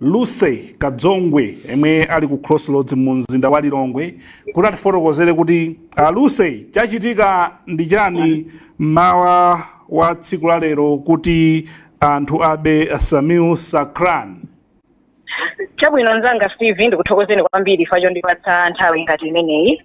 Lucy Kadzongwe yemwe ali ku Crossroads mu mzinda wa Lilongwe kuti atifotokozere kuti a Lucy chachitika ndi chani mmawa wa tsiku la lero kuti anthu abe Sameer Sacranie. chabwino nzanga steve ndikuthokozeni kwambiri chifukwa chondipatsa nthawi ngati imeneyi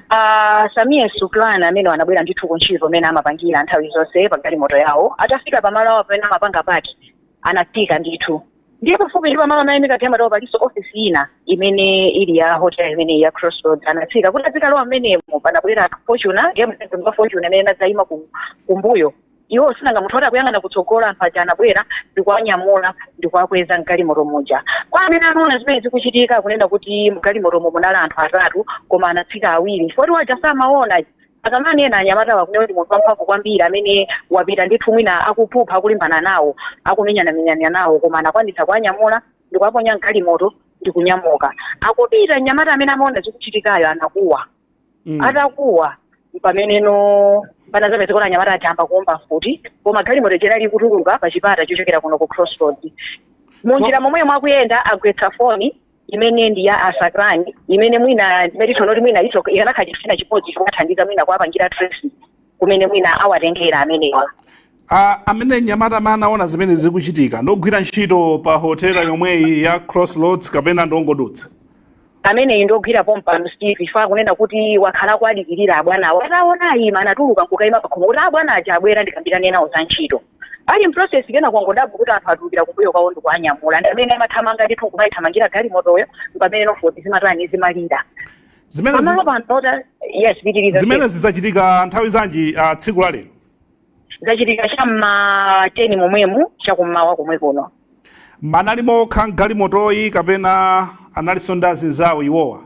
Uh, Sameer Sacranie amene anabwera ndithu ku ntchito mmene amapangira nthawi zonse pa galimoto yawo atafika pamalo awo pamene amapanga paki anafika ndithu ndiye pafupi ndi pamalo amene amaimika galimotowo palinso ofisi ina imene ili ya hotel imeneyi ya crossroads anatsika kuti adzikalowa mmenemo panabwera Fortuner ndiye mtundu wa Fortuner imene inadzayima ku- kumbuyo iwo sinanga munthu oti akuyang'ana kutsogolo anthu aja anabwera ndikuwanyamula ndikuwakweza mgalimoto muja kwa amene anaona zimene zikuchitika akunena kuti mgalimotomo munali anthu atatu koma anatsika awiri foti waja samaona Akamanena anyamatawo akunena kuti ndi munthu wamphamvu kwambiri amene wapita ndithu mwina akuphupha akulimbana nawo akumenyanamenyana nawo koma anakwanitsa kuwanyamula ndikuwaponya mgalimoto ndikunyamuka akupita mnyamata amene amaona zikuchitikayo anakuwa mm. atakuwa pameneno panazapezeka kuti anyamata aja ayamba kuomba mfuti koma galimoto ija inali kutuluka pa chipata chochokera kuno ku crossroads munjira momwemo akuyenda agwetsa foni imene ndi ya a Sacranie imene mwina imene tiona kuti mwina iso ikanakhala chinthu china chimodzi chokathandiza mwina kuwapangira trace kumene mwina awatengera amenewa Ah, amene mnyamata amene anaona zimene zikuchitika ndogwira ntchito pa hotela yomweyi ya crossroads kapena ndongodutsa ameneyi ndogwira pompa Steve chifukwa akunena kuti wakhala akuwadikirira abwanawo ataona aima anatuluka nkukayima pakhomo kuti abwana aja abwera ndikambirane nawo za ntchito ali mprocess kenako angodabwa kuti anthu atulukira kumbuyo kwawo ndikuanyamula ndi amene amathamanga ndithu kumaithamangira galimotoyo mpamene nofoti zimatani zimalira zimene zi- pamalo pano ota yes pitiriza zimenezi zachitika nthawi zanji ah, tsiku la lero zachitika cha mma 10 momwemu chakummawa komwe kuno anali okha mgalimotoyi kapena analinso ndi azinzawo iwowa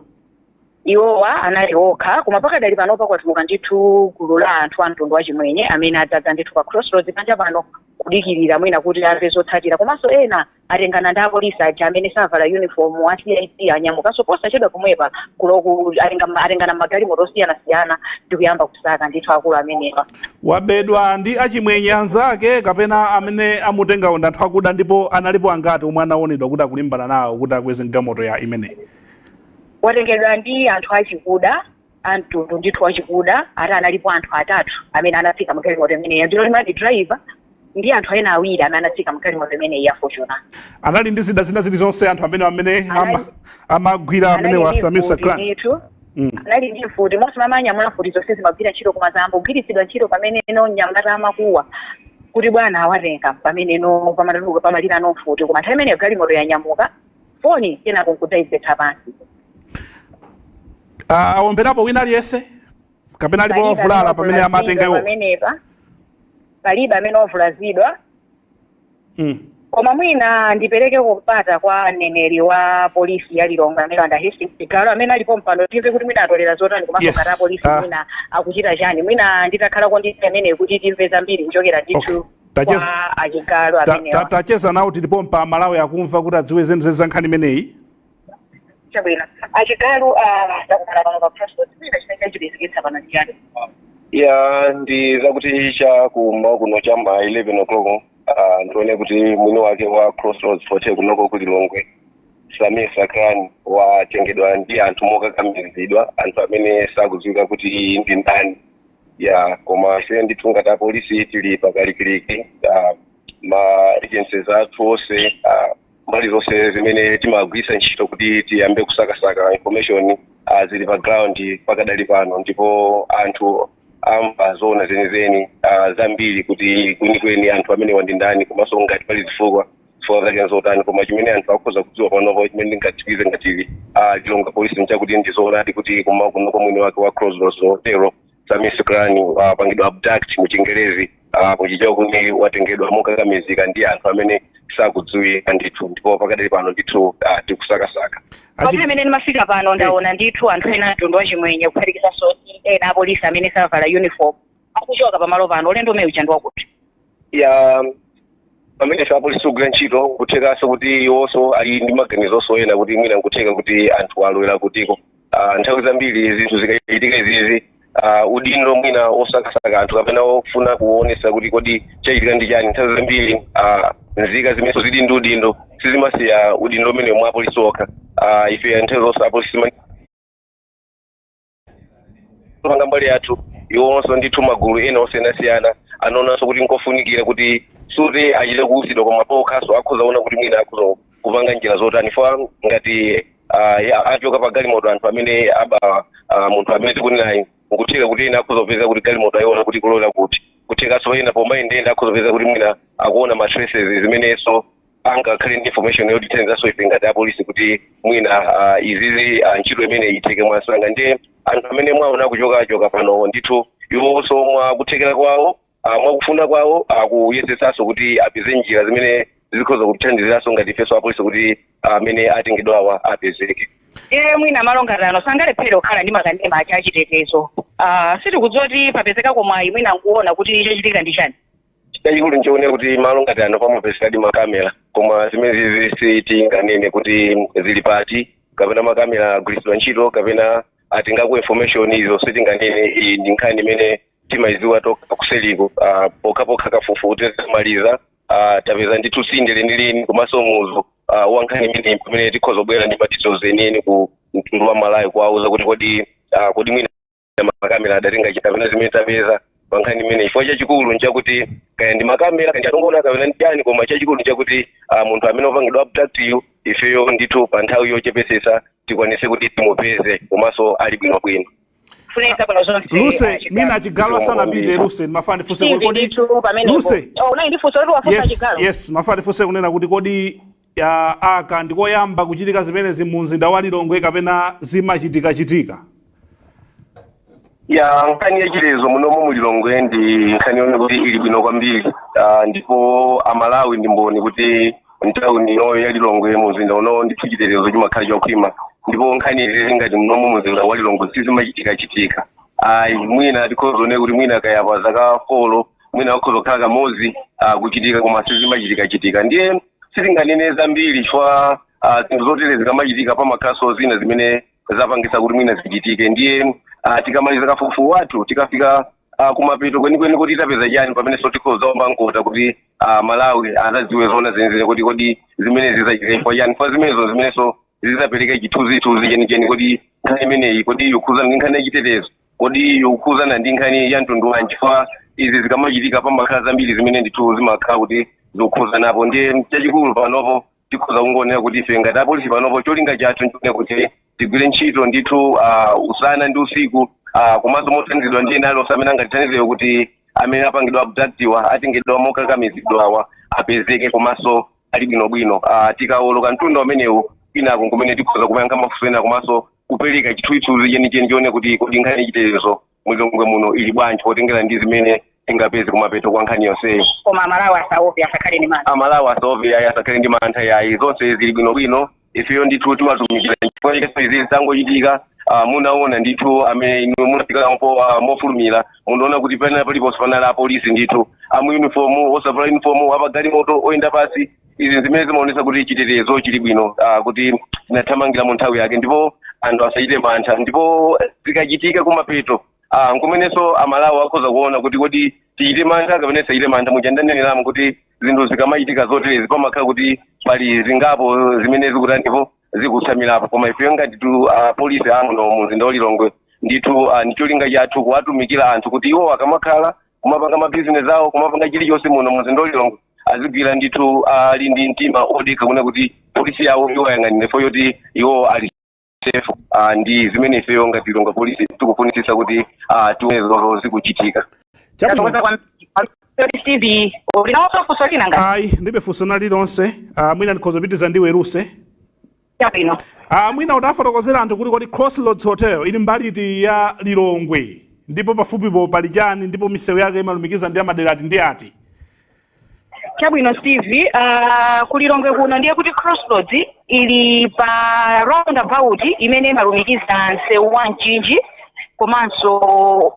Iwowa anali okha, koma pakadali panopa kwatuluka ndithu gulu la anthu a mtundu wa Chimwenye amene adzadza ndithu pa Crossroads panja pano kudikirira mwina kuti amve zotsatira. Komanso ena atengana ndi apolisi aja amene savala uniform a CID anyamukanso posachedwa pomwepa kuloku atenga- atengana mmagalimoto osiyanasiyana ndi kuyamba kusaka ndithu akulu amenewa. wabedwa ndi achimwenye anzake kapena amene amutengawo ndi anthu akuda ndipo analipo angati omwe anaonedwa kuti akulimbana nawo kuti akweze mgalimoto ya imeneyi watengedwa ndi anthu achikuda amtundu ndithu wachikuda ati analipo anthu atatu amene anatsika mgalimoto imeneyo ndiye amati driver ndi anthu ena awiri amene anatsika mgalimoto imeneyi ya Fortuner anali ndi zida zina zilizonse anthu amene amene ama- amagwira amenewa Samir Sacranie ndithu Mm. anali ndi mfuti onse amanyamula mfuti zonse zimagwira ntchito kumadzagwiritsidwa ntchito pameneno anyamata amakuwa kuti bwana awatenga pameneno pamatuluka pamalirano mfuti koma nthawi imeneyo galimoto yanyamuka foni kenako nkudzaigwetsa pansi Ah, awomberapo wina aliyense kapena alipo Palibe ovulala amene pamene wavulazidwa amatengedwa pamenepa palibe amene wavulazidwa Mm. koma mwina ndipereke mpata kwa mneneri wa polisi ya lilongwe amene ndi a hastings chigalu amene ali pompano timve kuti mwina atolera zotani komanso Yes. ngati apolisi Ah. mwina akuchita chani mwina nditakhalako ndi amenewa kuti timve zambiri kuchokera ndithu Tacheza- kwa achigalu ta- ta- amenewa tacheza nawo tili pompa amalawi akumva kuti adziwe zenizeni za nkhani imeneyi chabwino achigalu ah, takumana pano pa crossroads mwina chimene chakupezeketsani pano ndi chiyani ya ndi zakuti cha kummawa kuno cha ma 11 o'clock ah, ndione kuti mwini wake wa crossroads hotel kunoko ku lilongwe samir sacranie watengedwa ndi anthu mokakamizidwa anthu amene sakudziwika kuti ndi ndani ya koma ife ndithu ngati apolisi tili pakalikiliki ah, ma agencies athu onse ah, mbali zonse zimene timagwiritsa ntchito kuti tiyambe kusakasaka information ah, zili pa ground pakadali pano ndipo anthu amva zoona zenizeni ah, zambiri kuti kwenikweni anthu amenewa ndi ndani komanso ngati pali zifukwa zifukwa zake nzotani koma chimene anthu akhoza kudziwa panopo chimene ndingatsimikize ngati lilongwe polisi nchakuti ndizoonadi kuti kummawa kunoko mwini wake wa crossroads hotel samir sacranie wapangidwa abduct mu chingerezi ah, kuchichewa kuti watengedwa mokakamizika ndi anthu amene sakudziwika ndithu ndipo pakadali pano ndithu ah, tikusakasaka pamene amene ndimafika pano ndaona ndithu anthu ena mtundu wachimwenye kuphatikizaso ena apolisi amene sanavale uniform akuchoka pamalo pano ulendo umenewu uja ndi wa kuti ya pamene ife apolisi tikugwira ntchito kuthekanso kuti iwonso ali ndi maganizonso ena kuti mwina nkutheka kuti anthu alowera kutiko Ah, nthawi zambiri zinthu zikachitika izizi ah, udindo mwina osakasaka anthu kapena ofuna kuonesa kuti kodi chachitika ndi chani nthawi zambiri ah, nzika zimenenso zili ndi udindo sizimasiya udindo umenewo kwa apolisi okha Ah, ife nthawi zonse apolisi panga mbali yathu iwonso ndithu magulu ena osiyanasiyana amaonanso kuti nkofunikira kuti sikuti achite kuuzidwa koma paokhanso akhoza kuona kuti mwina akhoza kupanga njira zotani chifukwa ngati ah, ya- achoka pa galimoto anthu amene aba ah, munthu amene tikunenayi nkutheka kuti ena akhoza kupeza kuti galimoto ayiona kuti kulowera kuti kuthekanso ena pomayendeyenda akhoza kupeza kuti mwina akuona ma traces zimenenso angakhale ndi information yotithandizanso ife ngati apolisi kuti mwina ah, izizi ah, ntchito imene itheke mwansanga ndiye anthu amene mwaona kuchokachoka pano ndithu iwonso mwa kuthekera kwawo ah, mwa kufuna kwawo akuyesetsanso kuti apeze njira zimene zikhoza kutithandiziranso ngati ifenso apolisi kuti amene atengedwawa apezeke e mwina malo ngati ano sangalephere kukhala ndi makanema a chitetezo Ah, sitikudziwa kuti papezekako mwayi mwina nkuona kuti chachitika ndi chani chachikulu nchonena kuti malo ngati ano pamapezekadi makamera koma zimenezi sitinganene kuti zili pati kapena makamera agwiritsidwa ntchito kapena atengako information izo sitinganene ndi nkhani imene timayidziwa tokha kuseliko ah, pokhapokha kafukufuku titamaliza ah, tapeza ndithu tsinde lenileni komanso muzu ah, wa nkhani imeneyi pomwe tikhoza kubwera ndi ma details enieni ku mtundu wa Malawi kuwauza kuti kodi ah, kodi mwina makamera adatenga chani kapena zimene tapeza pankhani imeneyi chifukwa chachikulu nchakuti kaya ndi makamera kaya ndi anthu angoona kapena ndi chani koma chachikulu nchakuti ah, munthu amene wapangidwa abduct yu ifeyo ndithu pa nthawi yochepetsetsa tikwanise kuti timupeze komanso ali bwinobwino funika bwino zonse Lucy mwina a Chigalu asanapite Lucy ndimafuna ndifunse kuti kodi Lucy unali ndifunso kuti wafunsa yes Chigalu yes ndimafuna ndifunse kunena kuti kodi Aka ndi koyamba kuchitika zimenezi mu mzinda wa Lilongwe kapena zimachitikachitika? ya nkhani yachitetezo munomo mu Lilongwe ndi nkhani yonena kuti ili bwino kwambiri Ah, ndipo aMalawi ndi mboni kuti mtauni inoyo ya Lilongwe mu mzinda unowo ndithu chitetezo chimakhala chokhwima ndipo nkhani izizi ngati munomo mu mzinda wa Lilongwe sizimachitikachitika ayi mwina tikhoza kunena kuti mwina kaya pa zaka folo mwina akhoza kukhala kamodzi ah, kuchitika koma sizimachitikachitika ndiye sitinganene zambiri chifukwa ah, zinthu zotere zikamachitika pamakhalanso zina zimene zapangitsa kuti mwina zichitike ndiye ah, tikamaliza kafukufuku wathu tikafika ah, kumapeto kwenikweni kuti tapeza chani pamenenso tikhoza kuomba mkota kuti ah, aMalawi adzadziwe zona zenizene kuti kodi zimenezi zachitika chifukwa chani chifukwa zimenezo zimenenso zizapereka chithunzithunzi chenicheni kodi nkhani imeneyi kodi yokhudzana ndi nkhani yachitetezo kodi yokhudzana ndi nkhani ya mtundu wanji chifukwa izi zikamachitika pamakhala zambiri zimene ndithu zimakhala kuti zokhudzanapo ndiye chachikulu panopo tikhoza kungonena kuti ife ngati apolisi panopo cholinga chathu nchonena kuti tigwire ntchito ndithu ah, usana ndi usiku ah, komanso mothandizidwa ndi ena alonse amene angatithandizewo kuti amene apangidwa abductiwa atengedwa mokakamizidwawa apezeke komanso ali bwinobwino Ah, tikawoloka mtunda umenewu kwinako nkumene tikhoza kumayankha mafunso ena komanso kupereka chithunzithunzi chenicheni chonena kuti kodi nkhani yachitetezo mu Lilongwe muno ili bwanji potengera ndi zimene tingapeze kumapeto kwa nkhani yonseyi koma aMalawi asaope asakhale ndi mantha aMalawi asaope ayi asakhale ndi mantha yayi zonse zili bwinobwino ifeyo ndithu timatumikira chifukwa chakenso izi zitangochitika ah, munaona ndithu amene inu munafikirapo ah, mofulumira munaona kuti panali paliponse panali apolisi ndithu amu uniform osavala uniform apagalimoto oyenda pansi izi zimene zimaonesa kuti chitetezo chili bwino ah, kuti tinathamangira mu nthawi yake ndipo anthu asachite mantha ndipo zikachitika kumapeto ah, nkumenenso amalawi akhoza kuona kuti kodi tichite mantha kapena tisachite mantha muja ndaneneramu kuti zinthu zikamachitika zoterezi pamakhala kuti pali zingapo zimene zikuta ndipo zikutsamirapo koma ifeyo ngati tu apolisi amuno mu mzinda wa lilongwe ndithu ah, ndicholinga chathu kuwatumikira anthu kuti iwo akamakhala kumapanga mabizinesi awo kumapanga chilichonse muno mu mzinda wa lilongwe azigwira ndithu ali ndi mtima odekha kuona kuti polisi yawo iwayang'anire pofuna kuti iwo ali safe ah, ndi zimene ifeyo ngati lilongwe polisi tikufunitsitsa kuti ah, tione zomwe zikuchitika chabwino steve uli nalonso funso lina ngati ayi ndibe funso lina lililonse ah, mwina ndikhoza kupitiriza ndi iwe luse chabwino Ah, mwina utawafotokozera anthu kuti kodi crossroads hotel ili mbali iti ya lilongwe ndipo pafupipo pali chani ndipo misewu yake imalumikiza ndi amadera ati ndi ati chabwino steve uh, kulilongwe kuno ndiye kuti crossroads ili pa roundabout imene imalumikiza msewu wa mchinji komanso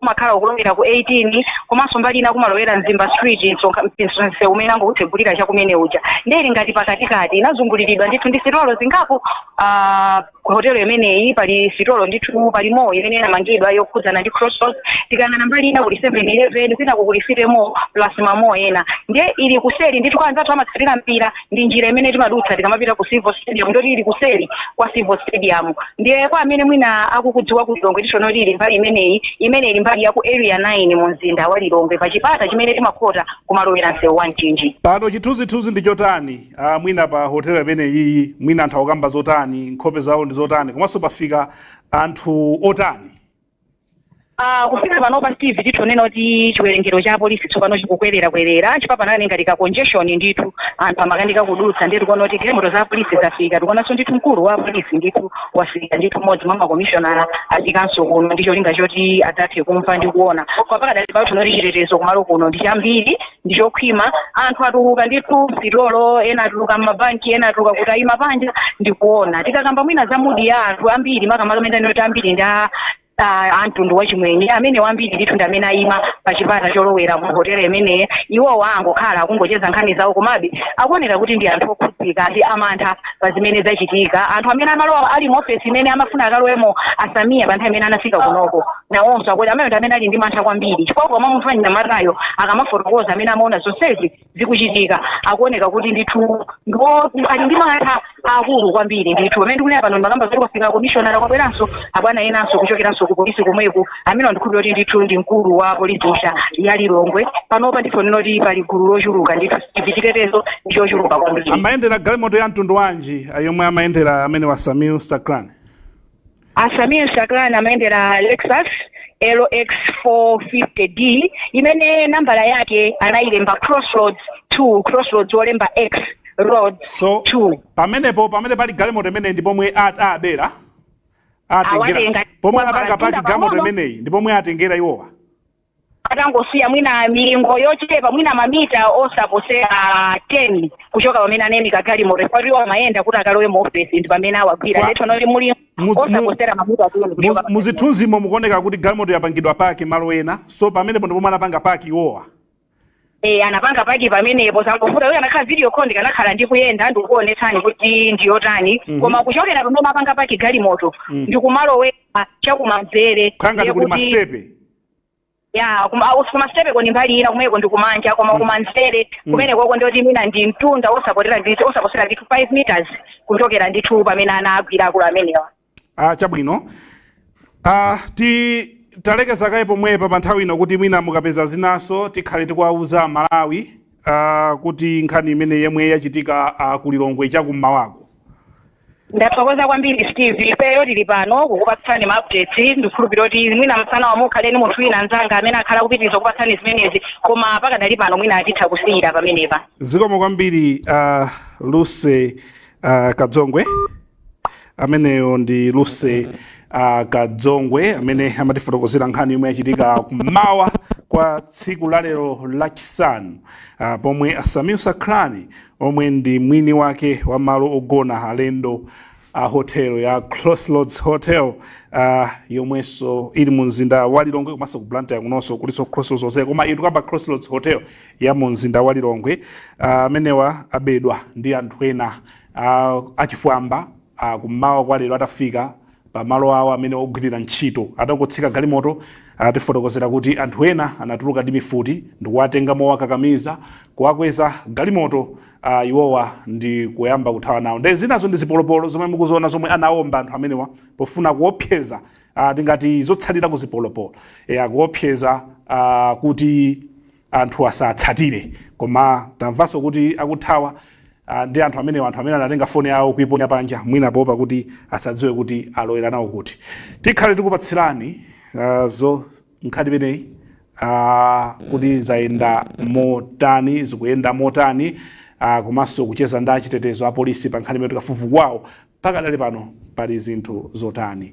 umakhala ukulowera ku 18 komanso mbali ina kumalowera mzimba street mpomwenso msewu umene angoutsegulira chakumene uja ndiye ili ngati pakatikati inazunguliridwa ndithu ndi sitolo zingapo uh, ku hotelo imeneyi pali sitolo ndithu pali mall imene inamangidwa yokhudzana ndi crossroads tikayang'ana mbali ina kuli 711 kwinako kuli city mall plus ma mall ena ndiye ili kuseri ndithu kwa anzathu amene amatsatira mpira ndi njira imene timadutsa tikamapita ku civo stadium ndoti ili kuseri kwa civo stadium ndiye kwa amene mwina akukudziwa ku lilongwe titha kunena kuti ili mbali imeneyi imene ili mbali ya ku area 9 mu mzinda wa lilongwe pa chipata chimene timakhota kumalowera msewu wa mchinji pano chithunzithunzi ndi chotani ah, mwina pa hotel imeneyi mwina anthu akukamba zotani nkhope zawo ndi zotani komanso pafika anthu otani Ah, kufika pano pa steve titha kunena kuti chiwerengero cha apolisi tsopano chikukwererakwerera chifukwa panakhala ngati ka congestion ndithu anthu amakanika kudutsa ndiye tikuona kuti galimoto za apolisi zafika tikuonanso ndithu mkulu wa apolisi ndithu wafika ndithu mmodzi mwa makomishonala afikanso kuno ndi cholinga choti athe kumva ndi kuona kwa pakadali pano tikuona kuti chitetezo kumalo kuno ndi chambiri ndi chokhwima anthu atuluka ndithu msitolo ena atuluka mmabanki ena atuluka kuti ayima panja ndi kuona tikakamba mwina za mudi ya anthu ambiri makamaka amene ndinenoti ambiri ndi a- a- a mtundu wachimwenye amene ambiri ndithu ndi amene ayima pa chipata cholowera mu hotela imeneyi iwowa a angokhala akungocheza nkhani zawo komabe akuoneka kuti ndi anthu okhudzika ndi amantha pa zimene zachitika anthu amene amalowa ali mu ofesi imene amafuna akalowemo a samir pa nthawi imene anafika kunoko nawonso akuti amene ndi amene ali ndi mantha kwambiri chifukwa koma munthu anyamatayo akamafotokoza amene amaona zonsezi zikuchitika akuoneka kuti ndithu ndipo ali ndi mantha aakulu kwambiri ndithu pamene ndikunena pano ndimakamba zoti kwafika komishonara kwabweranso abwana enanso kuchokeranso ku polisi komweku amene ndikhulupirira kuti ndithu ndi mkulu wa polisi ya lilongwe panopa ndithu ndinene kuti pali gulu lochuluka ndithu chitetezo ndi chochuluka kwambiri amayendera galimoto ya mtundu wanji ah, yomwe amayendera amenewa a samir sakrani a samir sakrani amayendera lexus lx 450d imene nambala yake anayilemba crossroads 2 crossroads wolemba x roads 2 pamenepo pamene pali galimoto imene ndi pomwe a- abera atengera pomwe anapanga paki galimoto imeneyi ndi pomwe atengera iwowa atangosiya mwina milingo yochepa mwina mamita osaposera 10 kuchoka pamene anayimika galimoto pali iwo amayenda kuti akalowe mu ofesi ndi pamene awagwira ndithu ndi mulingo osaposera mamita 10 mu zithunzimo mukuoneka kuti galimoto yapangidwa paki malo ena so pamenepo ndi pomwe anapanga paki iwowa Eh, anapanga paki pamenepo zangovuta uyo anakhala video call ndikanakhala ndikuyenda ndikukuonetsani kuti ndiyotani koma kuchokera pamene anapanga paki galimoto ndikumalowera chakumanzere kuli masitepe kumasitepeko ndi mbali ina kumeko ndi kumanja koma kumanzere kumenekoko ndi woti mwina ndi mtunda osaposera ndithu 5 meters kuchokera ndithu pamene anawagwira akulu amenewa Ah, chabwino ah, ti talekeza kaye pomwepa pa nthawi ino kuti mwina mukapeza zinanso tikhale tikuwauza malawi ah, kuti nkhani imeneyi yomwe yachitika ah, ku lilongwe chakum'mawako ndathokoza kwambiri steve ifeyo tili pano kukupatsani ma updates ndikhulupirira kuti mwina masanawa mukhale ndi munthu wina mzanga amene akhale kupitiriza kukupatsani zimenezi koma pakadali pano mwina titha kusiyira pamenepa zikomo kwambiri ah, lucy ah, kadzongwe ameneyo ndi lucy uh, kadzongwe amene amatifotokozera nkhani yomwe yachitika kummawa kwa tsiku la lero lachisanu uh, pomwe a samir sakrani omwe ndi mwini wake wa malo ogona alendo a hotel ya crossroads hotel uh, yomwenso ili mu mzinda wa lilongwe komanso ku blantyre kunonso kulinso crossroads hotel koma tikukamba crossroads hotel ya mu mzinda wa lilongwe amenewa uh, abedwa ndi anthu ena A, achifwamba a kummawa kwa lero atafika pa malo awo amene ogwirira ntchito, atangotsika galimoto, atifotokozera kuti anthu ena anatuluka ndi mifuti ndikuwatenga mowakakamiza, kuwakweza galimoto a iwowa ndi kuyamba kuthawa nawo. Nde zinazo ndi zipolopolo zomwe mukuziona zomwe anaomba anthu amenewa pofuna kuopseza a tingati zotsalira ku zipolopolo eya kuopseza a kuti. anthu asatsatire koma tamvanso kuti akuthawa ah, ndi anthu amenewa anthu amene anatenga foni yawo kuiponya panja mwina poopa kuti asadziwe kuti alowera nawo kuti tikhale tikupatsirani ah, zo nkhani imeneyi ah, kuti zayenda motani zikuyenda motani ah, komanso kucheza ndi achitetezo apolisi pa nkhani imeneyi kafukufuku wawo pakadali pano pali zinthu zotani